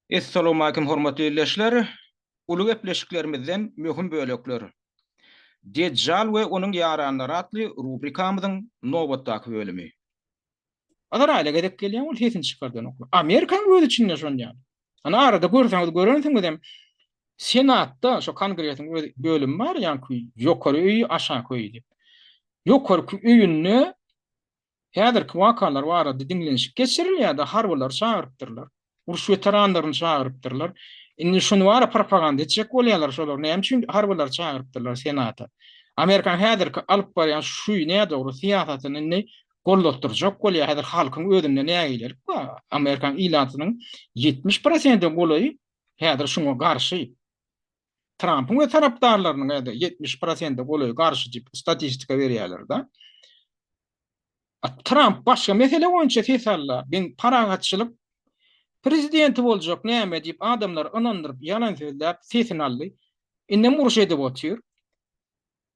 Essalawmalikim hormatly ildeşler! Uly gepleşiklerimizden möhüm bölekler. Dejjal we onuň ýaranlary atly rubrikamyzyň nobatdaky bölümi. Azraýyla gezek gelýän ol sesini çykardanoklar. Amerikanyň öz içinde şon ýaly. Ana arada görseňiz görensiňizem senatda şo kongresiň öz bölümi bar ýaňky ýokary öýi aşaky öýi diýip. Ýokarky öýünde Häzirki wakalar barada diňlenişik geçirilýärdi, harbylary çagyrypdyrlar, uruş weteranlaryny çagyrypdyrlar. Indi şuny bara propaganda etjek bolýarlar, şolar näme üçin harbylary çagyrypdyrlar Senata? Amerikanyň häzirki alyp barýan şu nädogry syýasatyny indi gollatdyrjak bolýar. Häzir halkyň özünde nägilelik bar. Amerikan ilatynyň ýetmiş prosente golaýy häzir şuňa garşy. Trampyň we tarapdarlarynyň ýa-da ýetmiş prosente golaý garşy diýip statistika berýärler-de. Tramp başga mesele boýunça ses alda, men parahatçylyk prezidenti boljak näme diýip adamlary ynandyryp ýalan sözläp sesini aldy. Indem uruş edip otyr.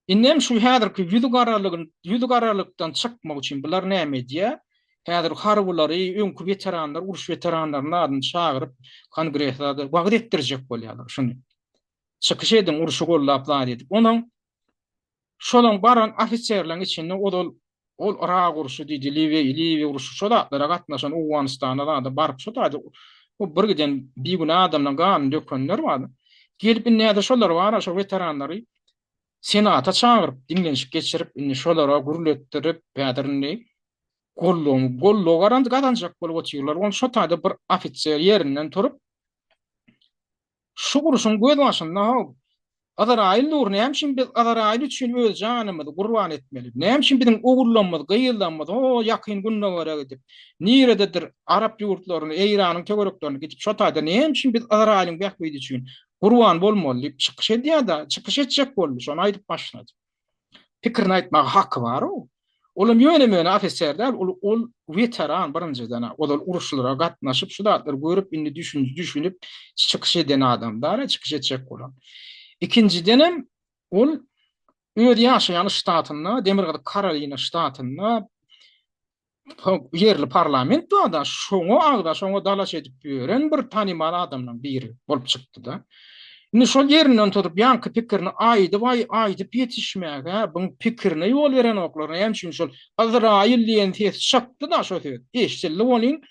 Indem şu häzirki ýüzügaralygyn ýüzügaralykdan çykmak üçin bular näme edýär? Häzir harbylary, öňki weteranlar, uruş weteranlarynyň adyny çagyryp, kongreslerde wagyz etdirjek bolýarlar şuny. Çykyş ediň, urşy goldap zat edip. Onuň şolaň baran ofiserleriň içinde ozal Ol Yrak urşy diýdi, Liwiýa Liwiýa urşy şo zatlara gatnaşan Owganystana zada baryp şo taýda bu bir giden bigünä adamlaryň ganyny dökenler bar. Gelip indi nädä şolar bara şo weteranlary senata çagyryp diňlenişik geçirip indi şolara gürletdirip häzir indi gollugyň gollugy garan gazanjak bolup otyrlar. Ony şo taýda bir ofiser ýerinden turup Şu urşuň gözbaşynda-haw, Azraýyl dur, näme üçin biz Azraýyl üçin öz janymyzy gurban etmeli? Näme üçin biziň ogullarymyz, gyzlarymyz ho, Ýakyn Gündogara gidip, nirededir arap ýurtlaryna, Eýranyň töwereklerine gidip, şo taýda näme üçin biz Azraýylyň bähbidi üçin gurban bolmaly diýip çykyş edýär-de, çykyş etjek boldy, şony aýdyp başlady. pikirini aýtmaga haky bar o. Olam ýöne möne ofisýer däl, ol ol weteran birinjiden, ozal uruşlara gatnaşyp, şu zatlar görüp, indi düşünip, düşünip çykyş eden adam däl, çykyş etjek bolan. Ikinjidenem ol öz ýaşaýan ştatynda, Demirgazyk Karolina ştatynda ýerli parlament bar-da, şoňa agza, şoňa dalaş edip ýören bir tanymal adamlaryň biri bolup çykdy-da. Indi şol ýerinden tutup ýaňky pikirini aýdyp, aýdyp ýetişmäge buň pikirine ýol berenoklar. Näme üçin şol Yzraýyl diýen ses çykdy-da, şo söz eşidildi welin,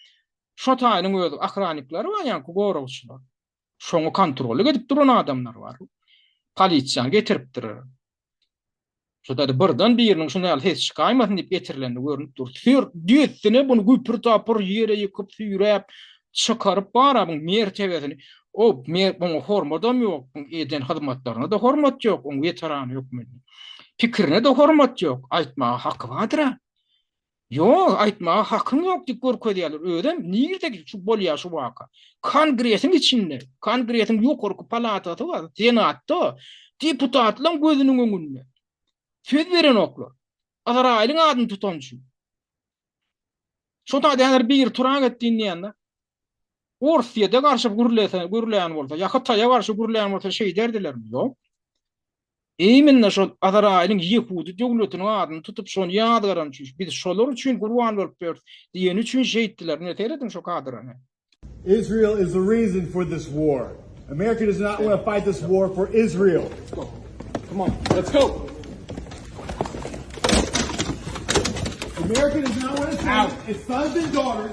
şo taýynyň özi, ohraniklary bar ýaňky goragçylar. Şoňa kontrollyk edip duran adamlar bar. Polisiýany getiripdirer. Şuda-da birden biriniň şuny al ses çykaýmasyn diýip getirileni görnüp dur. Sür, düýesine bunu güpür-tapyr ýere ýykyp, süýräp, çykaryp bar-a buň mertebesini. O, mer, buňa hormadam ýok, buň eden hyzmatlaryna-da hormat ýok, oň weterany hökmünde. Pikirine-de hormat ýok, aýtmaga haky bardyr-a. Ýok, aýtmaga hakyň ýok diýip görkezýärler. Özem nirde şu bolýar şu waka? Kongresiň içinde, kongresiň ýokarky palatasy bar, senatda, deputatlaryň gözüniň öňünde. Söz berenoklar. Azraýylyň adyny tutan üçin. Şo taýdan biri turak etdi indi ýanda. Orsyýede garşy gürlese, gürleýän bolsa, ýa Hytaýa garşy gürleýän bolsa şeýderdilermi? Ýok. Eýmenna şol Azraýylyň ýehudy döwletiniň adyny tutup şony ýazgaran üçin, biz şolar üçin gurban bolup ýörüs diýeni üçin şeýtdiler. Ine seýrediň şo kadrany. Israel is the reason for this war. America does not want to fight this war for Israel. Come on, let's go. America does not want to fight its sons and daughters.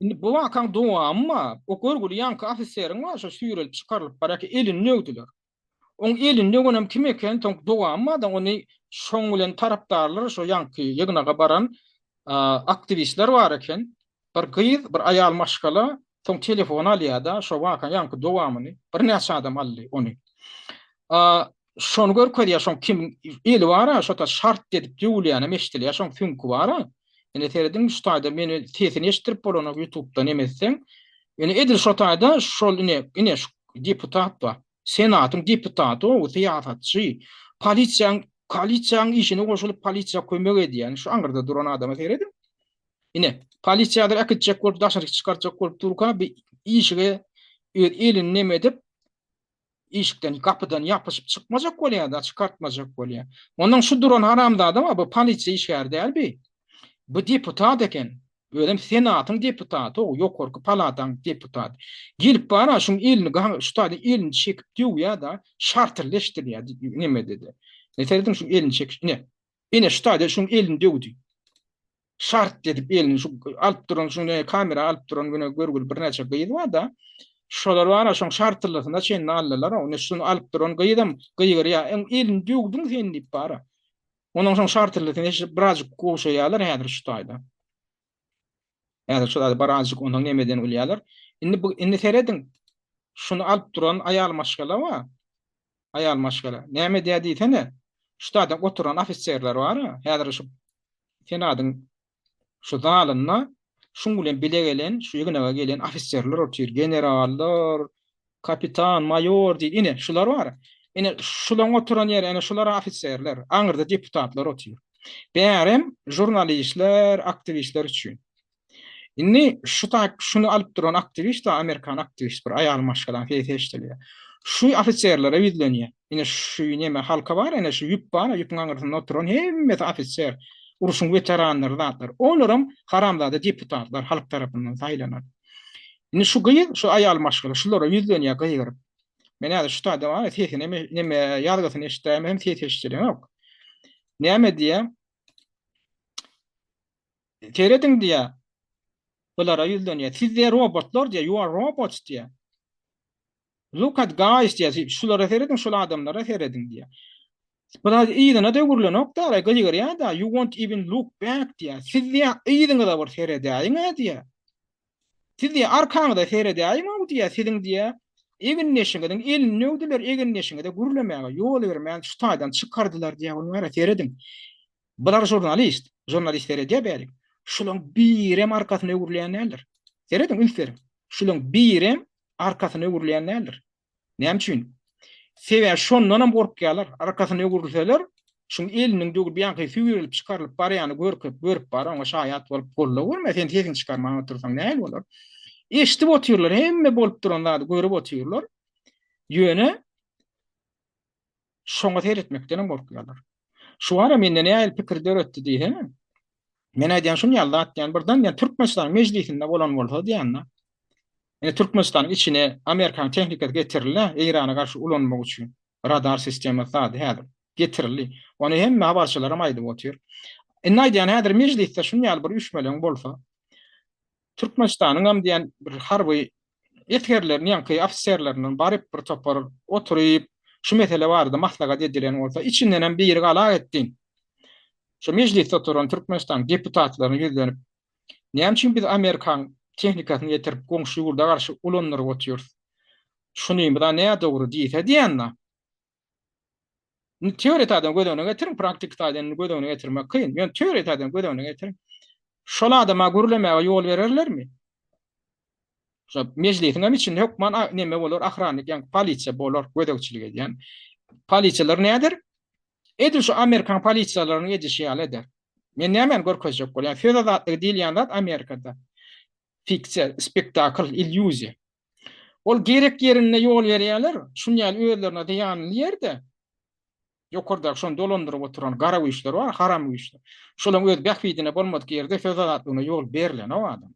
Indi bu wakaň dowamy bar. O görgüli ýaňky ofiseriň bar, şo süýrelip çykarylyp barýarka elini döwdüler. Oň elini döwenem kim eken, soň dowamy bar da, ony şoň bilen tarapdarlar, şo ýaňky ýygnaga baran aktiwistler bar eken. Bir gyz, bir aýal maşgala, soň telefon alýar-da, şo wakaň ýaňky dowamyny, birnäçe adam aldy ony. şony görkezýär, şoň kim eli bara, şota şart edip döwülýänem eşdilýär, şoň süňki bara. Ine serediň şu taýda men sesini eşitdirip bolanok YouTube-dan hem etseň. Ine edil şu taýda şol ine ine şu deputat bar. Senatyň deputaty o syýasatçy. Polisiýaň polisiýaň işine goşulyp polisiýa kömek edýän şu aňyrda duran adama serediň. Ine polisiýadyr äkitjek bolup daşaryk çykarjak bolup durka bir işige öz elini neme edip Işikden, gapydan ýapyşyp çykmajak bolýa-da, çykartmajak bolýa. Onnoň şu duran haramzada bar, bu polisiýa işgäri däl bi. Bu deputat eken. Özem senatyň deputaty-ow, ýokarky palataň deputaty. Gelip bar-a, şuň elini gan, şu taýdan elini çekip döwýä-da, şartyrleşdirýä, nemede-de. Ine, serediň, şu elini çekiş, ine, Ine şu taýda şuň elini döwdi. Şart edip elini şu alyp duran şuň ne kamera alyp duran güne görgüli birnäçe gyz bar-da. Şolar bar-a şoň şartlysyna çenli aldylar-a. Ine şuny alyp duran gyzam gygyrýar, Öň elini döwdüň sen diýip bar-a. Onuň şoň şartlysyny eşidip birazjyk gowşaýarlar häzir şu taýda. Häzir şol ady baranjyk ondan nemeden ulýalar. Indi bu indi serediň. Şuny alyp duran aýal maşgala wa. Aýal maşgala. Näme edýär diýsene. Şu taýdan oturan ofiserler bar-a, häzir şu senadyň şu zalynda şuň bilen bile gelen, şu ýygnaga gelen ofiserler otyr, generallar, Kapitan, maýor diýdi. Ine, şular bar. Ine, şularyň oturan ýeri, ine, şular ofiserler. Aňyrda deputatlar otyr. Bärem žurnalistler, aktiwistler üçin. Indi şu taýp, şuny alyp duran aktiwist, amerikan aktiwist bir aýalyň maşgalasyny, sesi eşidilýär. Şu ofiserlere ýüzlenýär. Ine şu neme halka bar ene şu ýüp bar, ýüpüň aňyrsynda oturan hemmesi ofiser, uruşyň weteranlary zatlar. Olaram haramzada deputatlar halk tarapyndan saýlanan. Indi şu gyz, şu aýal maşgala şulara ýüzlenýär gygyryp. Men häzir şu taýda bar, sesini neme ýazgysyny eşitdäýmem hem ses eşitdilenok. Näme diýýär? Serediň diýýär. Bulara ýüzlenýär. Siz diýýär robotlar diýýär, you are robots diýýär. Look at guys diýýär. Şulara serediň, şul adamlara serediň diýýär. Biraz yzyna da öwrülenok da, ara gygyrýar da, you won't even look back diýýär. Siz diýýär, yzyňyza bir seredäýiň-ä diýýär. Siz diýýär, arkaňyza seredäýiň-ow diýýär, siziň diýýär, egindeşiňiziň elini döwdüler, egindeşiňize gürlemäge ýol bermän, şu taýdan çykardylar diýýär, onuň ara serediň. Bular žurnalist, žurnalist seredýär bärik. Şularyň birem arkasyny öwrülýän däldir. Serediň, üns beriň. Şularyň birem arkasyna öwrülýän däldir. Näme üçin? Sebäbi şondan hem gorkýarlar. Arkasyna öwrülseler, şuň eliniň döwür bianky süýrülip çykarylyp barýany görküp, görüp bar, oňa şaýat bolup golla görme, sen sesiňi çykarman otursaň nähili bolar? Eşidip otyrlar, hemme bolup duran zady görüp otyrlar. Ýöne Şoňa seretmekdenem gorkýarlar. Şu bar ya mende nähili pikir döretdi diýhe. Men aýdýan şun ýaly zat diýen birden diýen Türkmenistanyň mejlisinde bolan bolsa diýende. Ine Türkmenistanyň içine Amerikanyň tehnikasy getirildi Eýrana garşy ulanmak üçin. Radar sistemasy zady häzir getirildi. Ony hemme habarçylaram aýdyp otyr. Indi aýdýan häzir mejlisde şun ýaly bir üýşmeleň bolsa. Türkmenistanyňam diýen bir harby esgerleriniň ýaňky ofiserlerinden baryp bir topar oturyp, şu mesele barada maslahat edilen bolsa, içindenem biri gala gitsin. Şu mejlisde oturan Türkmenistanyň deputatlaryna ýüzlenip, Näme üçin biz Amerikaň tehnikasyny getirip goňşy ýurda garşy ulandyryp otyrys? Şunymyz-a nädogry diýse diýende, Indi teoriýa taýdan göz öňüne getiriň, praktiki taýdan indi göz öňüne getirmek kyn. Ýöne teoriýa taýdan göz öňüne getiriň. Şol adama gürlemäge ýol bererlermi? Şo mejlisiň hem içinde hökman neme bolar, ahrannik, ýa polisiýa bolar, gözegçilik edýän. Polisiýalar näder? Edil şu amerikan polisiýalarynyň edişi ýaly eder. Men näme görkezjek bolýan? Söz azatlygy diýilýän zat Amerikada fiksiýa, spektakl, illýuziýa. Ol gerek ýerinde ýol berýärler, şuny ýaly özlerine zyýanly ýerde, ýokardaky şony dolandyryp oturan gara güýçler bar, haram güýçler. Şolaryň öz bähbidine bolmadyk ýerde söz azatlygyna ýol berlenok adam.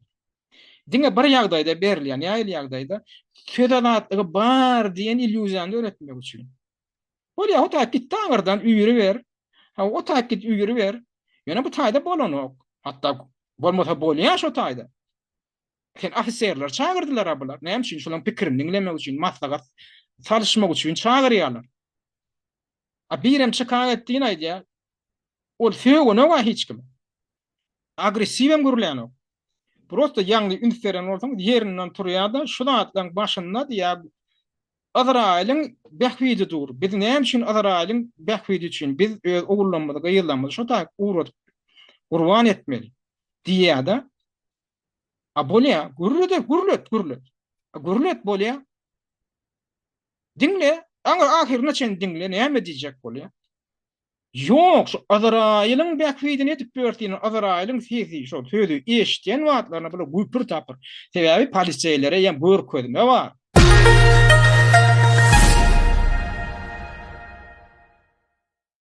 Diňe bir ýagdaýda berilýär, nähili ýagdaýda? Söz azatlygy bar diýen illýuziýany döretmek üçin. Bolýar, o taýyp git daňyrdan üýri ber, ha o taýyp git üýri ber. Ýöne bu taýda bolanok. Hatda bolmasa bolýar şo taýda. Sen ofiserleri çagyrdylar-a bular. Näme üçin? Şolaryň pikirini diňlemek üçin, maslahat salyşmak üçin çagyrýarlar. A birem çykan etdigini aýdýar. Ol sögünok-a hiç kime. Agressiw hem gürlänok. Prosta ýaňy üns beren bolsaňyz, ýerinden turýar-da, şu zatlaryň başynda diýýär, Yzraýylyň bähbidi dur. Biz näme üçin Yzraýylyň bähbidi üçin biz öz ogullarymyzy, gyzlarymyzy şo taýyp ugradyp, gurban etmeli? diýýär-de, A bolýa, gürlede gürlet, gürlet. A gürlet bolýa. Diňle, aňyr ahyryna çen diňle, näme diýjek bolýa? Ýok, şu Azraýylyň bähbidini edip ýörsin, Azraýylyň sesi, şol sözi eşitýän wagtlaryna bula güpür tapyr. Sebäbi poliseýlere ýa görkezme bar.